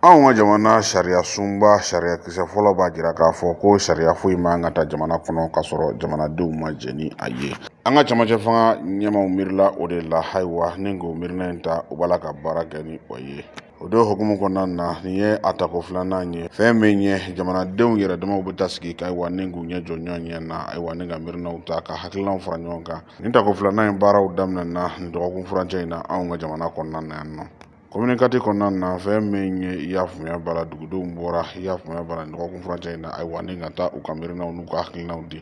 anw ka jamana sariya sunba sariya kisɛ fɔlɔ b'a jira k'a fɔ ko sariya foyi man ka ta jamana kɔnɔ k'a sɔrɔ jamanadenw ma jɛ ni a ye an ka camancɛ fanga ɲɛmaw miirila o de la ayiwa ni k'o miirina in ta u b'a la ka baara kɛ ni o ye o de hukumu kɔnɔna na nin ye a tako filanan ye fɛn min ye jamanadenw yɛrɛ damaw bɛ taa sigi ka ayiwa ni k'u ɲɛ jɔ ɲɔgɔn ɲɛ na ayiwa ni ka miirinaw ta ka hakilinaw fara ɲɔgɔn kan nin tako filanan in baaraw daminɛna nin dɔgɔkun furancɛ in na anw ka jamana kɔnɔna na yan nɔ komini kati kɔnɔna na fɛn min ye i y'a faamuya b'a la dugudenw bɔra i y'a faamuya b'a la nin dɔgɔkun furancɛ in na ayiwa ni ka taa u ka miirinaw n'u ka hakilinaw di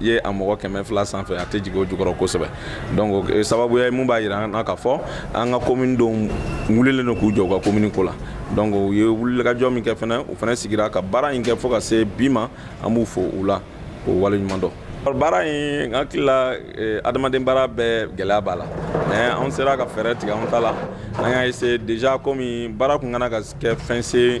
i ye a mɔgɔ kɛmɛ fila sanfɛ a tɛ jigin o jukɔrɔ kosɛbɛ donc eh, sababuya mun b'a jira an na k'a fɔ an ka komini denw wulilen don k'u jɔ u ka komini ko la donc u ye wulikajɔ min kɛ fana u fana sigira ka baara in kɛ fo ka se bi ma an b'u fo o la k'u waleɲuman dɔn baara in n hakili la eh, adamaden baara bɛɛ gɛlɛya b'a la mais an sera ka fɛɛrɛ tigɛ an ta la an y'a eseye deja komi baara kun kana ka kɛ fɛn se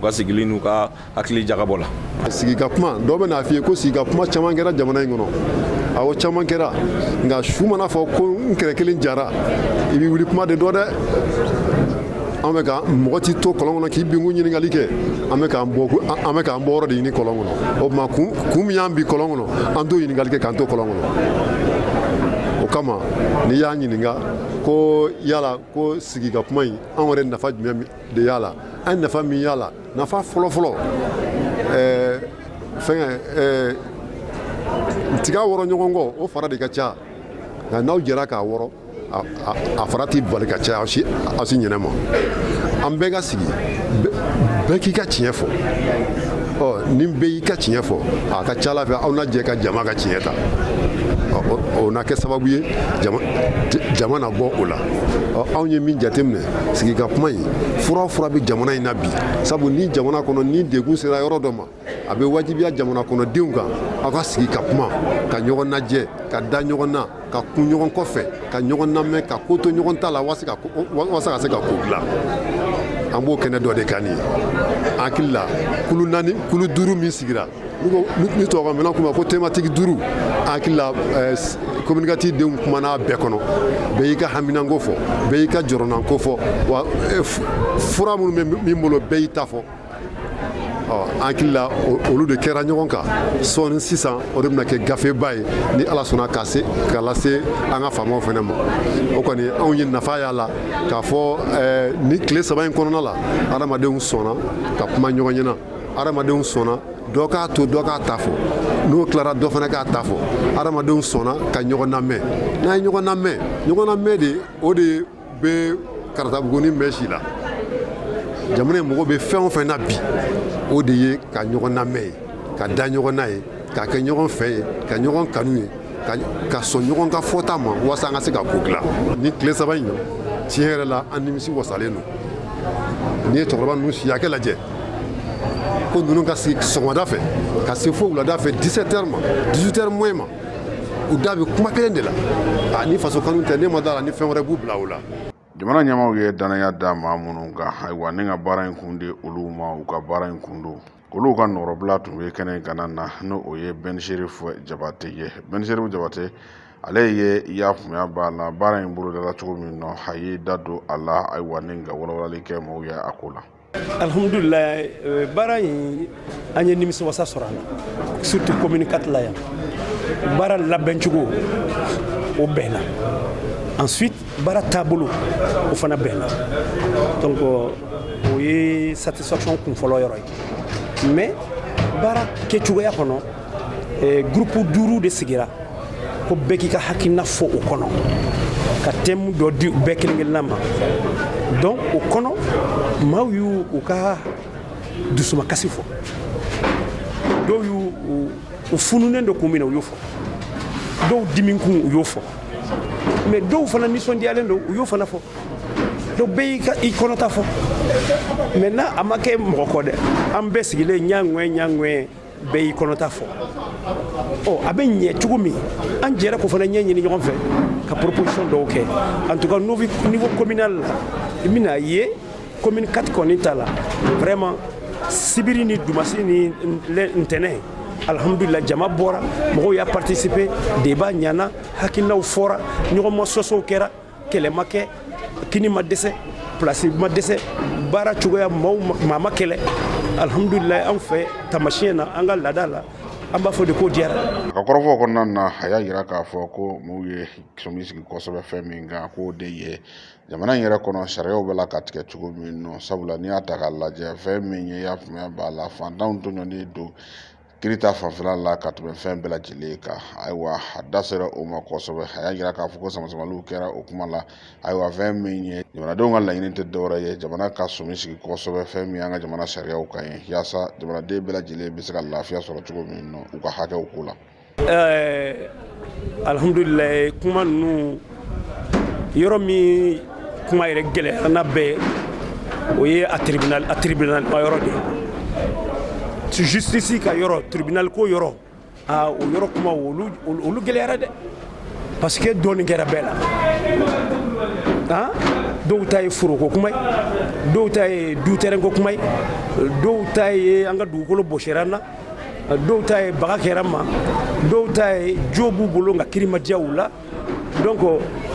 u ka sigili n'u ka hakili jagabɔ la sigi ka kuma dɔw bɛn'a f'i ye ko sigi ka kuma caman kɛra jamana in kɔnɔ awɔ caman kɛra nka su man'a fɔ ko n kɛrɛ kelen jara i b'i wuli kuma de dɔn dɛ an bɛ ka mɔgɔ t'i to kɔlɔn kɔnɔ k'i binkun ɲininkali kɛ an bɛ k'an bɔ an bɛ k'an bɔ yɔrɔ de ɲini kɔlɔn kɔnɔ o tuma kun kun min y'an bin kɔlɔn kɔnɔ an t'o ɲininkali kɛ k'an to kɔlɔn kɔnɔ o kama n'i y'a ɲininka ko yala ko sigi ka kuma in an yɛrɛ nafa jumɛn de y'a la an ye nafa min y'a la nafa fɔlɔfɔlɔ ɛɛ fɛngɛ ɛɛ tiga wɔrɔ ɲɔgɔn kɔ o fara de ka ca nka n'aw jɛra k'a wɔrɔ a fara t'i bali ka caya aw si aw si ɲɛnɛ ma an bɛɛ ka sigi bɛɛ k'i ka tiɲɛ fɔ ɔ ni bɛɛ y'i ka tiɲɛ fɔ a ka ca ala fɛ aw na jɛ ka jama ka tiɲɛ ta o na kɛ sababu ye jama na bɔ o la ɔ anw ye min jateminɛ sigi ka kuma in fura fura bɛ jamana in na bi sabu ni jamana kɔnɔ ni degun sera yɔrɔ dɔ ma a bɛ wajibiya jamana kɔnɔdenw kan aw ka sigi ka kuma ka ɲɔgɔn najɛ ka da ɲɔgɔn na ka kun ɲɔgɔn kɔfɛ ka ɲɔgɔn namɛn ka ko to ɲɔgɔn ta la wasa ka se ka ko dilan an b'o kɛnɛ dɔ de kan nin ye n hakili la kulu naani kulu duuru min sigira ni tɔgɔ minɛn kuma ko tematiki duuru n hakili la komini kati denw kumana bɛɛ kɔnɔ bɛɛ y'i ka haminanko fɔ bɛɛ y'i ka jɔrɔnanko fɔ wa e, fura minnu bɛ min bolo bɛɛ y'i ta fɔ n hakili la olu de kɛra ɲɔgɔn kan sɔɔni sisan o de bɛna kɛ gafeba ye ni ala sɔnna k'a lase an ka faamaw fana ma o kɔni anw ye nafa y'a la k'a fɔ eh, ni tile saba in kɔnɔna la adamadenw sɔnna ka kuma ɲɔgɔn ɲɛna adamadenw sɔnna dɔ k'a to dɔ k'a ta fɔ n'o tilara dɔ fana k'a ta fɔ adamadenw sɔnna ka ɲɔgɔn namɛn n'an ye ɲɔgɔn namɛn ɲɔgɔn namɛn de o de bɛ karatabuguni mɛn si la jamana in mago bɛ fɛn o fɛn na bi o de ye ka ɲɔgɔn namɛn ye ka da ɲɔgɔn na ye ka kɛ ɲɔgɔn fɛ ye ka ɲɔgɔn kanu ye ka sɔn ɲɔgɔn ka fɔta ma walasa an ka se ka ko dilan ni tile saba in tiɲɛ yɛrɛ la an nimisi wasalen don n'i ye cɛkɔrɔba ninnu si hakɛ lajɛ ko ninnu ka sigi sɔgɔmada fɛ ka se fo wulada fɛ 17 heures ma 18 heures moins ma u da bɛ kuma kelen de la a ni faso kanu tɛ ne ma da la ni fɛn wɛrɛ b'u bila o la jamana ɲɛmaaw ye danaya da maa minnu kan ayiwa ni ka baara in kun di olu ma u ka baara in kun don olu ka nɔrɔbila tun bɛ kɛnɛ in kanna na n'o ye ben cherif jabate ye ben cherif jabate ale ye y'a faamuya b'a la baara in bolodala cogo min nɔ a y'i da don a la ayiwa ni ka walawalali kɛ mɔgɔw ye a ko la alihamudulila eh, baara in an ye nimisiwasa sɔrɔ a la surtout commune 4 la yan baara labɛncogo o bɛnna ensuite baara taabolo o fana bɛnna donc o ye satisfaction kunfɔlɔ yɔrɔ ye mais baara kɛcogoya kɔnɔ eh, groupe duuru de sigira ko bɛɛ k'i ka hakilina fɔ o kɔnɔ ka thème dɔ di bɛɛ kelen kelenna ma donc o kɔnɔ maaw y'u u ka dusumakasi fɔ dɔw y'u u fununen don kun min na u y'o fɔ dɔw dimikun u y'o fɔ mais dɔw fana nisɔndiyalen don u y'o fana fɔ donc bɛɛ y'i kɔnɔta fɔ maintenant a ma kɛ mɔgɔ kɔ dɛ an bɛɛ sigilen ɲaŋɛ ɲaŋɛ bɛɛ y'i kɔnɔta fɔ ɔ a bɛ ɲɛ cogo min an jɛra k'o fana ɲɛɲini ɲɔgɔn fɛ ka proposition dɔw kɛ en tout cas niveau communal la i bɛna ye commune 4 kɔni ta la vraiment sibiri ni dumasi ni ntɛnɛn alhamdulila jama bɔra mɔgɔw y'a participer débat ɲana hakilinaw fɔra ɲɔgɔnmasɔsɔw kɛra kɛlɛ ma kɛ kini ma dɛsɛ plasi ma dɛsɛ baara cogoya maaw maa ma kɛlɛ alhamdulilayi anw fɛ tamasiyɛn na an ka laada la an b'a fɔ de ko diyara a ka kɔrɔfɔ kɔnɔna na a y'a yira k'a fɔ ko mɔgɔw ye sɔmi sigi kosɛbɛ fɛn min kan k'o de ye jamana in yɛrɛ kɔnɔ sariyaw bɛ lakatigɛ cogo min nɔ sabula n'i y'a ta k'a lajɛ fɛn min ye y'a faamuya b'a la fantanw tɔɲɔni don kiri ta fanfɛla la ka tɛmɛ fɛn bɛɛ lajɛlen kan ayiwa a da sera o ma kosɛbɛ a y'a yira k'a fɔ ko samasamaliw kɛra o kuma la ayiwa fɛn min ye jamanadenw ka laɲini tɛ dɔwɛrɛ ye jamana ka sɔmi sigi kosɛbɛ fɛn min y'an ka jamana sariyaw kan ye yaasa jamanaden bɛɛ lajɛlen bɛ se ka lafiya sɔrɔ cogo min nɔ u ka hakɛw ko la ɛɛ alihamudulilayi kuma ninnu yɔrɔ min kuma yɛrɛ gɛlɛyara n'a bɛɛ o ye a tribunal a tribunal ma yɔrɔ de ye justice ka yɔrɔ tribunal ko yɔrɔ aa o yɔrɔ kuma olu olu gɛlɛyara dɛ parce que dɔɔnin kɛra bɛɛ la han dɔw ta ye foroko kuma ye dɔw ta ye du terrain ko kuma ye dɔw ta ye an ka dugukolo bɔsira an na dɔw ta ye baga kɛra ma dɔw ta ye jo b'u bolo nka kiri ma diya u la donc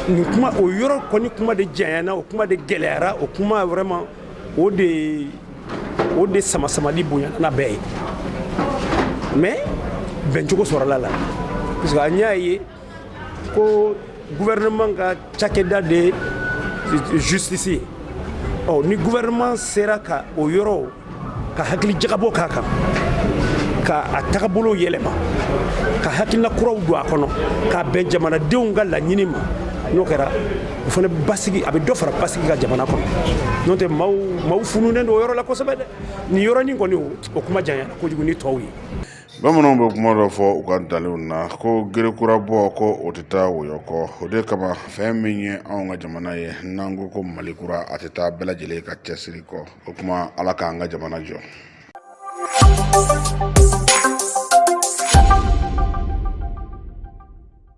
nin kuma o yɔrɔ kɔni kuma de janyana o kuma de gɛlɛyara o kuma vraiment o de o de sama-samali bonyana bɛɛ ye mais bɛncogo sɔrɔla a la parce que an y'a ye ko gouvernement ka cakɛda de ye justice ye ɔ ni gouvernement sera ka o yɔrɔ ka hakili jagabɔ k'a kan ka a tagabolo yɛlɛma ka hakilina kuraw don a kɔnɔ k'a bɛn jamanadenw ka laɲini ma n'o kɛra o fana basigi a bɛ dɔ fara basigi kan jamana kɔnɔ n'o tɛ maaw maaw fununen don o yɔrɔ la kosɛbɛ dɛ nin yɔrɔnin kɔni o kuma janyana kojugu ni tɔw ye bamananw bɛ kuma dɔ fɔ u ka ntalenw na ko gere kura bɔ ko o tɛ taa wɔyɔ kɔ o de kama fɛn min ye anw ka jamana ye n'an ko ko mali kura a tɛ taa bɛɛ lajɛlen ka cɛsiri kɔ o kuma ala k'an ka jamana jɔ